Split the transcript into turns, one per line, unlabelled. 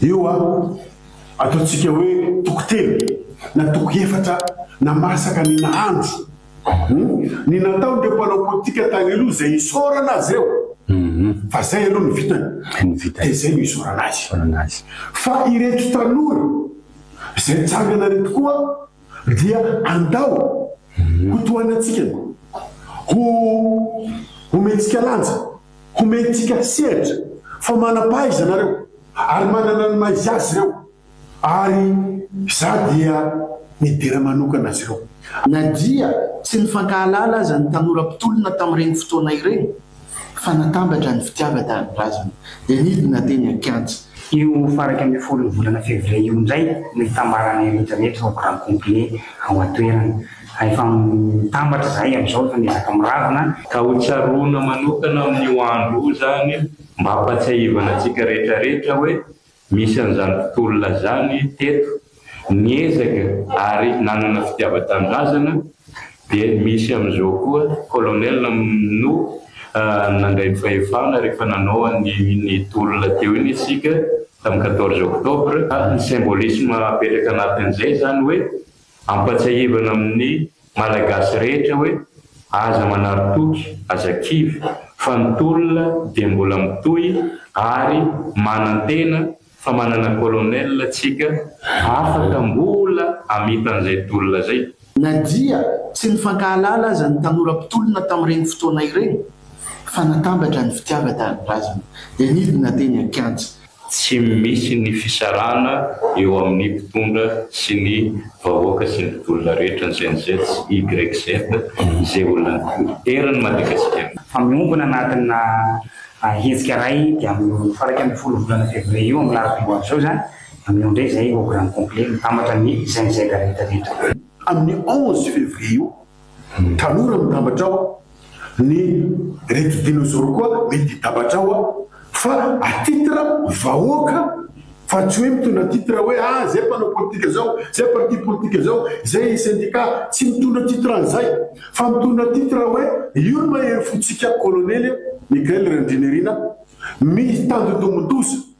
Eo an! Ataontsika hoe toko telo na toko efatra na masaka ny nahandro ny nataon'ireo mpanao politika tany aloha izay isaorana azy ireo fa izay aloha no vitany dia izay no isaorana azy fa ireto tanora izay nitsangana ireto koa dia andao ho tohanantsika ny ho omentsika lanja. Homentsika sehatra fa manam-paha izy ianareo ary manana ny maha-izy azy ireo ary izaho dia nidera manokana azy ireo. Na dia
tsy nifankahalala aza ny tanora mpitolona tamin'ireny fotoana ireny, fa natambatra ny fitiavan-tanindrazana, dia nidina teny an-kianja. Io faran'ny
ambin'ny folon'ny volana fevrier io indray no hitambaran'ny rehetra rehetra ho grand complet ao an-toerana. Fa efa mitambatra izahay amin'izao, efa miezaka miravona. Ka ho tsaroana
manokana amin'io andro io izany, mba hampatsiahivana antsika rehetra rehetra hoe misy an'izany mpitolona izany teto, niezaka ary nanana fitiavan-tanindrazana, dia misy amin'izao koa colonel no nandray ny fahefana rehefa nanao an'iny tolona teo iny isika tamin'ny quatorze octobre, ka ny symbolisme apetraka anatin'izay izany hoe Ampatsiahivana amin'ny Malagasy rehetra hoe aza manary toky, aza kivy, fa ny tolona dia mbola mitohy ary manantena fa manana Colonel tsika afaka mbola hamita an'izay tolona izay. Na dia
tsy nifankahalala aza ny tanora mpitolona tamin'ireny fotoana ireny fa natambatra ny fitiavan-tanindrazana dia nidina teny an-kianja. Tsy misy
ny fisarahana eo amin'ny mpitondra sy ny vahoaka sy ny mpidola rehetra ny Gen-Z sy YZ izay olona eran'ny Madagasikara. Fa miombona
anatina hetsika iray dia amin'io faha iraika ambin'ny folo volana février io amin'ny lafiny ho avy izao izany amin'io indray izay au grand complet mitambatra ny Gen-Z rehetra rehetra. Amin'ny onze
février io Tanora mitambatra ao ny reto dinozoro koa mety hitambatra ao an! fa à titre vahoaka fa tsy hoe mitondra titre hoe ah zay mpanao politika zao, zay parti politika zao, zay syndicat, tsy mitondra titre an'izay fa mitondra titre hoe io ny mahery fontsika kolonely Mickael Randrianirina mitandindomin-doza.